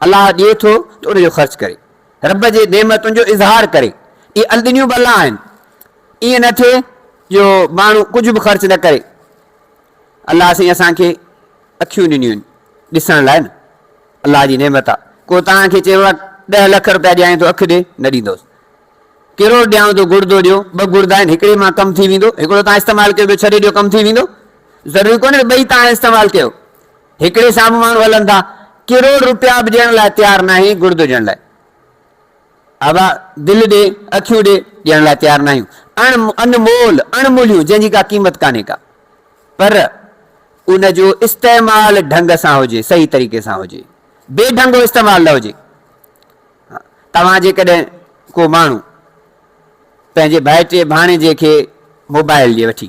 الله ڏئي ٿو ته ان جو خرچ ڪري رب جي نعمتن جو اظهار ڪري. اهي الڏنيون به الله آهن. ائين نه ٿئي جو ماڻهو ڪجهه به خرچ نه ڪري. الله سائين اسان کي اکيون ڏنيون آهن ڏسڻ لاء نه. الله جي نعمت آ. ڪو توهان کي چيو آ ڏهه لک روپيا ڏيانء ٿو اک ڏي، نه ڏيندوس. ڪروڙ ڏيانء ٿو گڙدو ڏيو، ٻه گڙدا آهن هڪڙي مان ڪم ٿي ويندو، هڪڙو توهان استعمال ڪيو ٻيو ڇڏي ڏيو ڪم ٿي ويندو. ضروري ڪونهي ته ٻئي توهان استعمال ڪيو. هڪڙي سامهون ماڻهو هلن ٿا ڪروڙ روپيا به ڏيڻ لاء تيار ناهي گڙدو ڏيڻ لاء ابا دل ڏي اکيون ڏي ڏيڻ لاء تيار ناهيون اڻ انمول اڻ موليون جنهن جي ڪا قيمت ڪانهي ڪا پر ان جو استعمال ڍنگ سان هجي صحيح طريقي سان هجي بي ڍنگو استعمال نه هجي توهان جيڪڏهن ڪو ماڻهو پنهنجي ڀائٽي ڀاڻيجي کي موبائل ڏي وٺي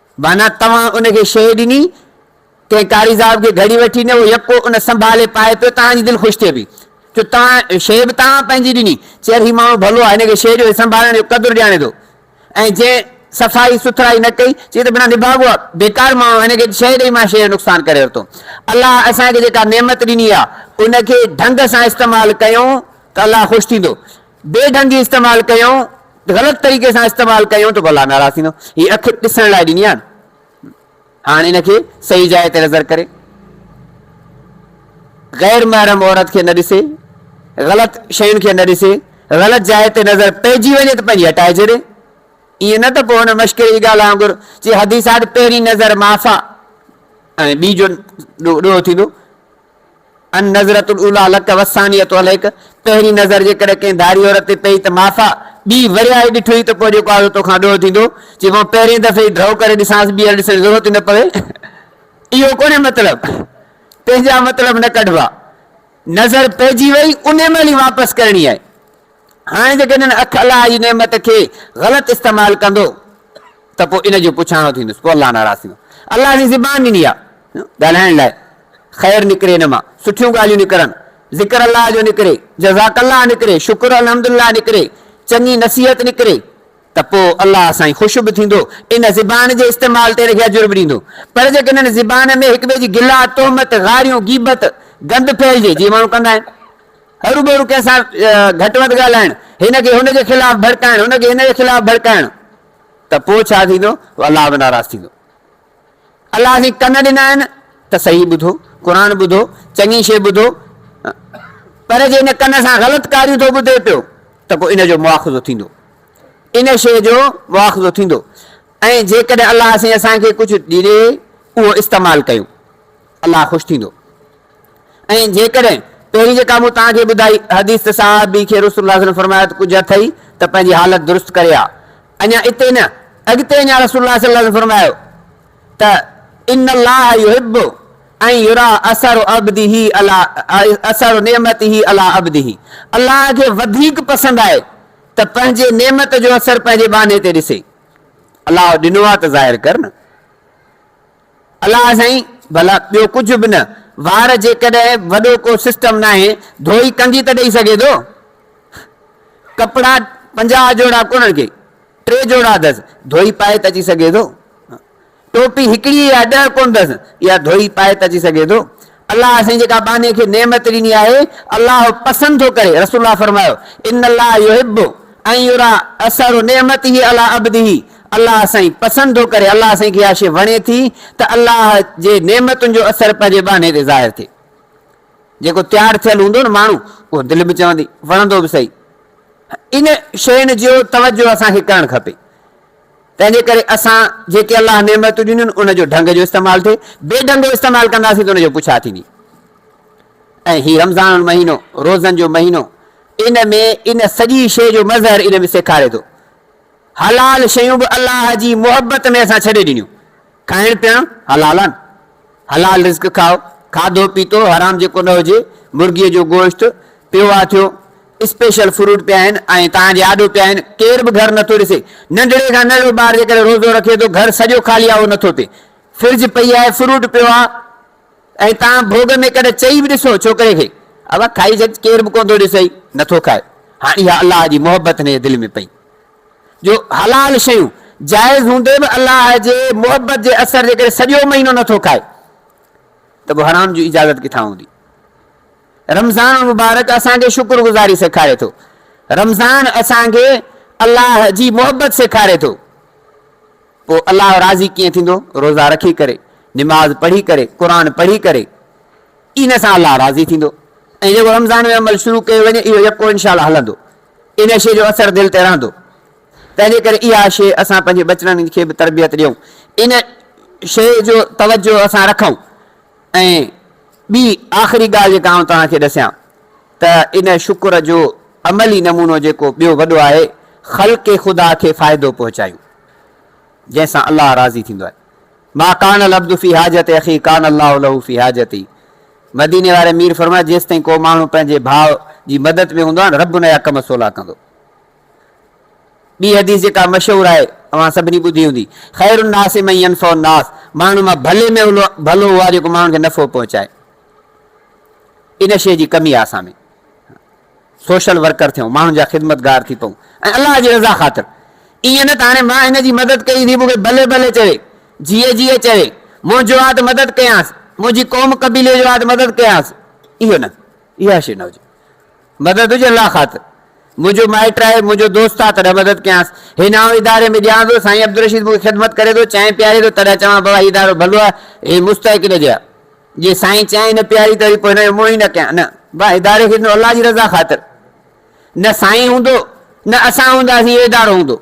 معنيٰ توهان ان کي شيء ڏني، ڪنهن قاري صاحب کي گهڙي وٺي ڏني، اهو يڪو ان سنڀالي پائي پيو، توهان جي دل خوش ٿئي پئي. چيو توهان شيء به توهان پنهنجي ڏني. چير هي ماڻهو ڀلو آهي، هن کي شيء ڏيو، هي سنڀالڻ جو قدر ڄاڻي ٿو. ۽ جنهن صفائي سٿرائي نه ڪئي، چي هي ته بنا نڀاڳو آهي، بيڪار ماڻهو آهي، هن کي شيء ڏئي مان شيء جو نقصان ڪري ورتو. الله اسان کي جيڪا نعمت ڏني آهي، ان کي ڍنگ سان استعمال ڪيون ته الله خوش ٿيندو. بي ڍنگي استعمال ڪيون غلط طريقي سان استعمال ڪيون ته ڀلا ناراض ٿيندو هي اک ڏسڻ لاء ڏني آهي هاڻ ان کي صحيح جاء تي نظر ڪري غير محرم عورت کي نه ڏسي غلط شين کي نه ڏسي غلط جاء تي نظر پئجي وڃي ته پنهنجي هٽائي ڇڏي ائين نه ته پوء هن مشڪل جي ڳالهه وانگر چي حديث آهي ته پهرين نظر معاف آهي ۽ ٻي جو ڏوهه ٿيندو النظرة الاوليٰ لك والثانية عليك، پهرين نظر جيڪڏهن ڪنهن ڌاري عورت تي پئي ته معاف آ، ٻي وريائي ڏٺوئي ته پوء جيڪو آزو توکان ڏوهه ٿيندو، جي مان پهرين دفعي ئي ڍؤ ڪري ڏسانس ٻيهر ڏسڻ جي ضرورت ئي نه پوي. اهو ڪونهي مطلب. پنهنجا مطلب نه ڪڍبا. نظر پئجي وئي انهي مهل ئي واپس ڪرڻي آهي. هاڻي جيڪڏهن هن اک الله جي نعمت کي غلط استعمال ڪندو ته پوء ان جو پڇاڻو ٿيندس، پوء الله ناراض ٿيندو. الله سائين زبان ڏني آهي ڳالهائڻ لاء، خير نڪري ان مان، سٺيون ڳالهيون نڪرن، ذڪر الله جو نڪري، جزاڪ الله نڪري، شڪر الحمد الله نڪري، چڱي نصيحت نڪري ته پوء الله سائين خوش به ٿيندو، ان زبان جي استعمال تي ان کي اجر به ڏيندو. پر جيڪڏهن زبان ۾ هڪٻئي جي گلا، تهمت، گاريون، غيبت، گند ڦهلجي، جيئن ماڻهو ڪندا آهن. هروڀرو ڪنهن سان گهٽ وڌ ڳالهائڻ، هن کي هن جي خلاف ڀڙڪائڻ، هن کي هن جي خلاف ڀڙڪائڻ ته پوء ڇا ٿيندو؟ الله به ناراض ٿيندو. الله سائين ڪن ڏنا آهن ته صحيح ٻڌو، قرآن ٻڌو، چڱي شيء ٻڌو پر جي ان ڪن سان غلط ڪاريون ٿو ٻڌي پيو ته پوء ان جو مواخذو ٿيندو، ان شيء جو مواخذو ٿيندو ۽ جيڪڏهن الله سائين اسان کي ڪجهه ڏي اهو استعمال ڪيون الله خوش ٿيندو. ۽ جيڪڏهن پهرين جيڪا مون توهان کي ٻڌائي حديث ته صحابي کي رسول الله صلي الله عليه وسلم فرمايو ته ڪجهه اٿئي ته پنهنجي حالت درست ڪري آ. اڃا اتي نه، اڳتي اڃا رسول الله صلي الله عليه وسلم فرمايو ته، ان الله يحب ان يرا اثر عبده علي اثر نعمته علي عبده الله کي وڌيڪ پسند آهي ته پنهنجي نعمت جو اثر پنهنجي ٻانهي تي ڏسي. الله ڏنو آ ته ظاهر ڪر نه. الله سائين ڀلا ٻيو ڪجهه به نه وار جيڪڏهن وڏو ڪو سسٽم ناهي ڌوئي ڪنگي ته ڏئي سگهي ٿو ڪپڙا پنجاهه جوڙا ڪونهن ڪي ٽي جوڙا اٿس ڌوئي پائي ته اچي سگهي ٿو ٽوپي هڪڙي يا ڏهه ڪونهن اٿس يا ڌوئي پائي ته اچي سگهي ٿو الله سائين جيڪا ٻانهي کي نعمت ڏني آهي الله پسند ٿو ڪري رسول الله فرمايو ان الله يحب ان يرا اثر نعمته علي عبده الله سائين پسند ٿو ڪري الله سائين کي اها شي وڻي ٿي ته الله جي نعمتن جو اثر پنهنجي ٻانهي تي ظاهر ٿئي جيڪو تيار ٿيل هوندو نه ماڻهو اهو دل به چوندي وڻندو به صحيح ان شين جو توجه اسان کي ڪرڻ کپي تنهنجي ڪري اسان جيڪي الله نعمتون ڏنيون ان جو ڍنگ جو استعمال ٿئي، بي ڍنگ استعمال ڪنداسين ته ان جو پڇا ٿيندي ۽ هي رمضان المهينو روزن جو مهينو ان ۾ ان سڄي شيء جو مظهر ان ۾ سيکاري ٿو حلال شيون به الله جي محبت ۾ اسان ڇڏي ڏنيون کائڻ پيئڻ حلال آھن حلال رزق کائو کاڌو پيتو حرام جيڪو نه هجي مرغي جو گوشت پيو آ ٿيو اسپيشل فروٽ پيا آھن ۽ تان جي آڏو پيا آھن ڪير به گهر نٿو ڏسي ننڍڙي کان ننڍڙو ٻار جيڪڏهن روزو رکي ٿو گهر سڄو خالي آ اهو نٿو ٿئي فرج پئي آھي فروٽ پيو آ ۽ تان ڀوڳ ۾ ڪڏهن چئي به ڏسو ڇوڪري کي ابا کائي ڇڏ ڪير به ڪونه ٿو ڏسئي نٿو کائي هاڻ اها الله جي محبت هن جي دل ۾ پئي جو حلال شيون جائز هوندي به الله جي محبت جي اثر جي ڪري سڄو مهينو نه ٿو کائي ته پوء حرام جي اجازت ڪٿان هوندي؟ رمضان المبارڪ اسان کي شڪر گذاري سيکاري ٿو. رمضان اسان کي الله جي محبت سيکاري ٿو. پوء الله راضي ڪيئن ٿيندو؟ روزا رکي ڪري، نماز پڙهي ڪري، قرآن پڙهي ڪري ان سان الله راضي ٿيندو. ۽ جيڪو رمضان ۾ عمل شروع ڪيو وڃي اهو يڪو انشاء الله هلندو. ان شيء جو اثر دل تي رهندو. تنهن جي ڪري اها شيء اسان پنهنجي ٻچڙن کي به تربيت ڏيون. ان شيء جو توجهه اسان رکون. ۽ ٻي آخري ڳالهه جيڪا آئون توهان کي ڏسيان ته ان شڪر جو عملي نمونو جيڪو ٻيو وڏو آهي، خلق خدا کي فائدو پهچايون، جنهن سان الله راضي ٿيندو آهي. ما ڪان العبد في حاجت اخيه ڪان الله له في حاجته. مديني واري مير فرمايو جيستائين ڪو ماڻهو پنهنجي ڀاء جي مدد ۾ هوندو آهي رب ان جا ڪم سولا ڪندو. ٻي حديث جيڪا مشهور آهي اوهان سڀني ٻڌي هوندي، خير الناس من ينفع الناس ماڻهن مان ڀلي ۾ ڀلو اهو آهي جيڪو ماڻهن کي نفعو پهچائي. ان شيء جي ڪمي آهي اسان ۾. سوشل ورڪر ٿيون، ماڻهن جا خدمتگار ٿي پئون ۽ الله جي رضا خاطر. ائين نه ته هاڻي مان هن جي مدد ڪئي ٿي مون کي ڀلي ڀلي چوي، جيئي جيئي چوي، منهنجو آ ته مدد ڪيانس، منهنجي قوم قبيلي جو آ ته مدد ڪيانس، اهو نه، اها شيء نه هجي. مدد هجي الله خاطر. منهنجو مائٽ آهي، منهنجو دوست آ تڏهن مدد ڪيانس. هي نائون اداري ۾ ڏيان ٿو، سائين عبدالرشيد مون کي خدمت ڪري ٿو، چانهه پياري ٿو، تڏهن چوان بابا هي ادارو ڀلو آ، هي مستحق ان جي آ. جي سائين چيائين نه پياري ته وري پوء هن جو منهن ئي نه ڪيان نه با اداري کي ڏنو الله جي رضا خاطر نه سائين هوندو نه اسان هونداسين اهو ادارو هوندو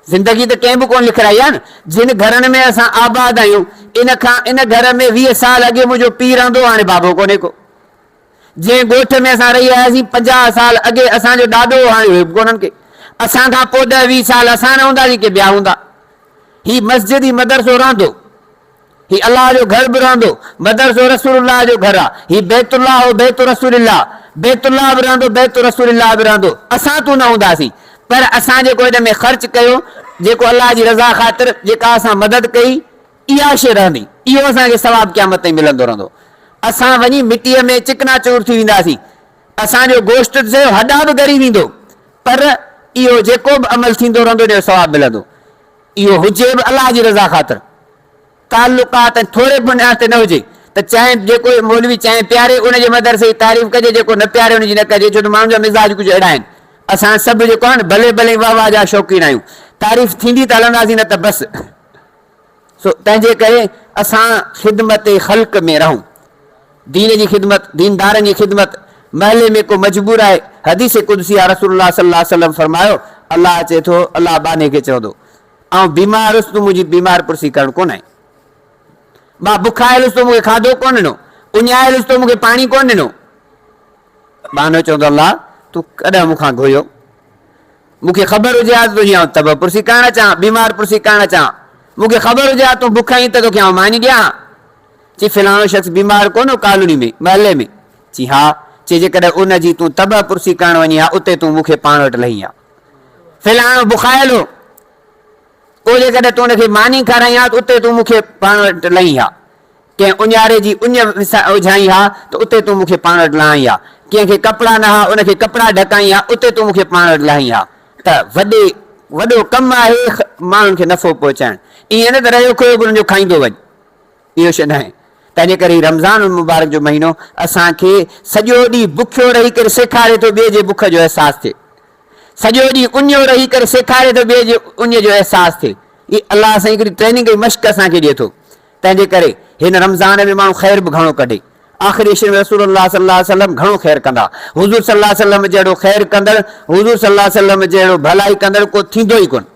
زندگي ته ڪنهن به ڪونه لکرائي آهي نه جن گهرن ۾ اسان آباد آهيون ان کان ان گهر ۾ ويهه سال اڳي منهنجو پيء رهندو هاڻي بابو ڪونهي ڪو جنهن ڳوٺ ۾ اسان رهي آياسين پنجاهه سال اڳي اسان جو ڏاڏو هو هاڻي اهي به ڪونهن ڪي اسان کان پوء ڏهه ويهه سال اسان نه هونداسين ڪي ٻيا هوندا هي مسجد هي مدرسو رهندو هي الله جو گهر به رهندو، مدرسو رسول الله جو گهر آ، هي بيت الله هو بيت رسول الله، بيت الله به رهندو بيت رسول الله به رهندو، اسان تون نه هونداسين پر اسان جيڪو هن ۾ خرچ ڪيو، جيڪو الله جي رضا خاطر جيڪا اسان مدد ڪئي، اها شيء رهندي، اهو اسان کي ثواب قيامت تائين ملندو رهندو، اسان وڃي مٽيء ۾ چڪنا چور ٿي وينداسين، اسان جو گوشت ته سهيو هڏا به ڳري ويندو، پر اهو جيڪو به عمل ٿيندو رهندو ان جو ثواب ملندو. اهو هجي به الله جي رضا خاطر، تعلقات ۽ ٿوري بنياد تي نه هجي ته چانهه جيڪو مولوي چانهه پياري ان جي مدرسي جي تعريف ڪجي جيڪو نه پياري ان جي نه ڪجي ڇو ته ماڻهن جا مزاج ڪجهه اهڙا آهن اسان سڀ جيڪو آهيون ڀلي ڀلي واه واه جا شوقين آهيون تعريف ٿيندي ته هلنداسين نه ته بس سو تنهنجي ڪري اسان خدمت خلق ۾ رهون. دين جي خدمت، ديندارن جي خدمت، محلي ۾ ڪو مجبور آهي، حديث قدسي آ رسول الله صلي الله عليه وسلم فرمايو، الله چئي ٿو، الله ٻانهي کي چوندو، آئون بيمار هيس تون منهنجي بيمار پرسي ڪرڻ ڪونه آئين، مان بکايل هيس تون مون کي کاڌو ڪونه ڏنو، اڃايل هيس تون مون کي پاڻي ڪونه ڏنو، ٻانهو چوندو الله تون ڪڏهن مون کان گهريو، مون کي خبر هجي ها ته تنهنجي آئون طبع پرسي ڪرڻ اچان ها، بيمار پرسي ڪرڻ اچان ها، مون کي خبر هجي ها ته تون بک آهين ته توکي آئون ماني ڏيان ها، چي فلاڻو شخص بيمار ڪونه هو ڪالوني ۾، محلي ۾؟ چي ها. چي جيڪڏهن ان جي تون طبع پرسي ڪرڻ وڃين ها اتي تون مون کي پاڻ وٽ لهين ها. فلاڻو بخايل هو، پوء جيڪڏهن تون ان کي ماني کارائين ها ته اتي تون مون کي پاڻ وٽ لهين ها. ڪنهن اڃاري جي اڃ وجهائين ها ته اتي تون مون کي پاڻ وٽ لهائين ها. ڪنهن کي ڪپڙا نه ها ان کي ڪپڙا ڍڪائين ها اتي تون مون کي پاڻ وٽ لهائين ها. ته وڏي وڏو ڪم آهي ماڻهن کي نفعو پهچائڻ. ائين نه ته رهيو کوهه گلن جو کائيندو وڃ. اهو شيء ناهي. تنهنجي ڪري ئي رمضان المبارڪ جو مهينو اسان کي سڄو ڏينهن بکيو رهي ڪري سيکاري ٿو ٻئي جي بک جو احساس ٿئي. سڄو ڏينهن اڃيو رهي ڪري سيکاري ٿو ٻئي جي اڃ جو احساس ٿئي. هي الله سائين هڪڙي ٽريننگ ۽ مشق اسان کي ڏئي ٿو. تنهنجي ڪري هن رمضان ۾ ماڻهو خير به گهڻو ڪڍي. آخري عشر ۾ رسول الله صلي الله عليه وسلم گهڻو خير ڪندا. حضور صلي الله عليه وسلم جهڙو خير ڪندڙ، حضور صلي الله عليه وسلم جهڙو ڀلائي ڪندڙ ڪو ٿيندو ئي ڪونه.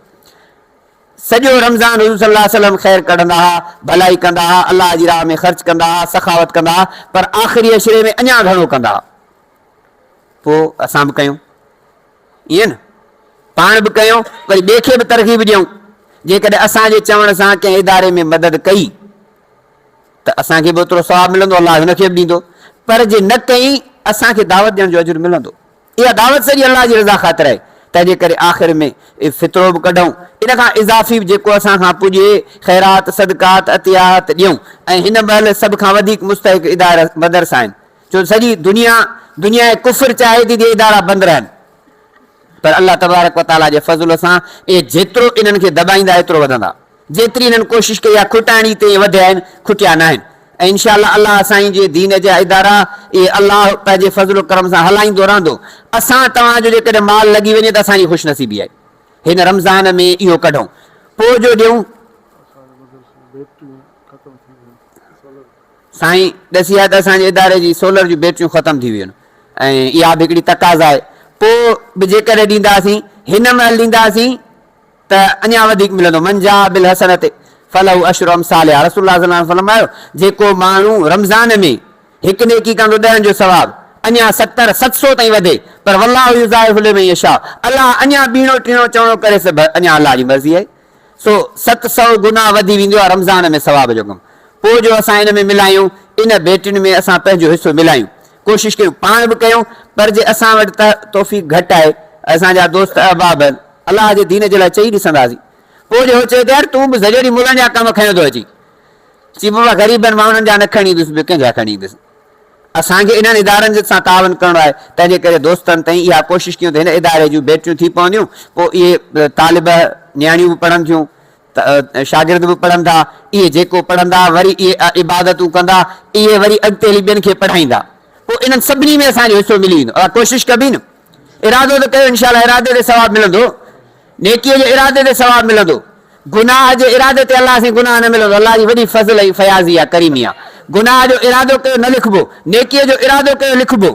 سڄو رمضان حضور صلي الله عليه وسلم خير ڪڍندا ها، ڀلائي ڪندا ها، الله جي راهه ۾ خرچ ڪندا ها، سخاوت ڪندا ها، پر آخري عشري ۾ اڃا گهڻو ڪندا ها. پوء اسان به ڪيون. ائين نه؟ پاڻ به ڪيون، وري ٻئي کي به ترغيب ڏيون. جيڪڏهن اسان جي چوڻ سان ڪنهن اداري ۾ مدد ڪئي ته اسان کي به اوترو ثواب ملندو، الله هن کي به ڏيندو. پر جي نه ڪئي، اسان کي دعوت ڏيڻ جو اجر ملندو. اها دعوت سڄي الله جي رضا خاطر آهي، تنهن جي ڪري آخر ۾ فطرو به ڪڍون، ان کان اضافي به جيڪو اسان کان پڄي خيرات، صدقات، عطيات ڏيون ۽ هن مهل سڀ کان وڌيڪ مستحق ادارا مدرسا آهن، ڇو سڄي دنيا دنيا ڪفر چاهي ٿي جي ادارا بند رهن، پر الله تبارڪ وتعاليٰ جي فضل سان اهي جيترو انهن کي دٻائيندا ايترو وڌندا. جيتري هنن ڪوشش ڪئي آهي کٽائڻ جي تيئن وڌيا آهن کٽيا ناهن ۽ انشاء الله الله سائين جي دين جا ادارا اهي الله پنهنجي فضل و ڪرم سان هلائيندو رهندو اسان توهان جو جيڪڏهن مال لڳي وڃي ته اسان جي خوش نصيبي آهي هن رمضان ۾ اهو ڪڍون پوء جو ڏيون سائين ڏسي آهي ته اسان جي اداري جي سولر جون بيٽريون ختم ٿي ويون ۽ اها به هڪڙي تقاضا آهي پوء به جيڪڏهن ڏينداسين هن مهل ڏينداسين ته اڃا وڌيڪ ملندو، من جاء بالحسنة فله عشر امثالها، رسول الله صلي الله عليه وسلم فرمايو، جيڪو ماڻهو رمضان ۾ هڪ نيڪي ڪندو ڏهن جو ثواب اڃا ستر، ست سو تائين وڌي، پر والله يضاعف لمن يشاء، الله اڃا ٻيڻو ٽيڻو چوڻو ڪري سڀ اڃا الله جي مرضي آهي، سو ست سو گنا وڌي ويندو آهي رمضان ۾ ثواب جو ڪم، پوء جو اسان ان ۾ ملايون، ان ڀيٽين ۾ اسان پنهنجو حصو ملايون. ڪوشش ڪيون پاڻ به ڪيون پر جي اسان وٽ ته توفيق گهٽ آهي اسان جا دوست احباب هن الله جي دين جي لاء چئي ڏسنداسين پوء جو هو چيو ته يار تون به زريري ملن جا ڪم کنيو ٿو اچين چي بابا غريبن مان انهن جا نه کڻي ايندس ٻيو ڪنهن جا کڻي ايندس اسان کي انهن ادارن سان تعاون ڪرڻو آهي تنهن جي ڪري دوستن تئين اها ڪوشش ڪيون ته هن اداري جون بيٽريون ٿي پونديون پوء اهي طالبه نياڻيون به پڙهن ٿيون ته شاگرد به پڙهندا، اهي جيڪو پڙهندا وري اهي عبادتون ڪندا، اهي وري اڳتي هلي ٻين کي پڙهائيندا، پوء انهن سڀني ۾ اسان جو حصو ملي ويندو. اوهان ڪوشش ڪبي نه؟ ارادو ته ڪيو، انشاء الله ارادي تي ثواب ملندو، نيڪيء جي ارادي تي ثواب ملندو، گناهه جي ارادي تي الله سين گناهه نه ملندو، الله جي وڏي فضل ۽ فياضي آهي، ڪريمي آهي، گناهه جو ارادو ڪيو نه لکبو، نيڪيء جو ارادو ڪيو لکبو،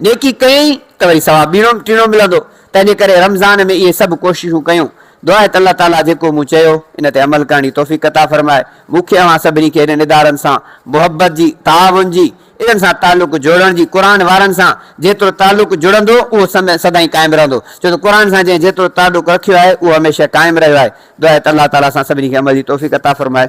نيڪي ڪيئي ته وري ثواب ٻيڻو ٽيڻو ملندو، تنهنجي ڪري رمضان ۾ اهي سڀ ڪوششون ڪيون، دعا آهي ته الله تعاليٰ جيڪو مون چيو، ان تي عمل ڪرڻ جي توفيق عطا فرمائي. مون کي اوهان سڀني کي اهڙين ادارن سان محبت جي، تعاون جي، انهن سان تعلق جوڙڻ جي، قرآن وارن سان جيترو تعلق جڙندو، اهو سدائين قائم رهندو، ڇو ته قرآن سان جنهن جيترو تعلق رکيو آهي، اهو هميشه قائم رهيو آهي. دعا آهي ته الله تعاليٰ اسان سڀني کي عمل جي توفيق عطا فرمائي.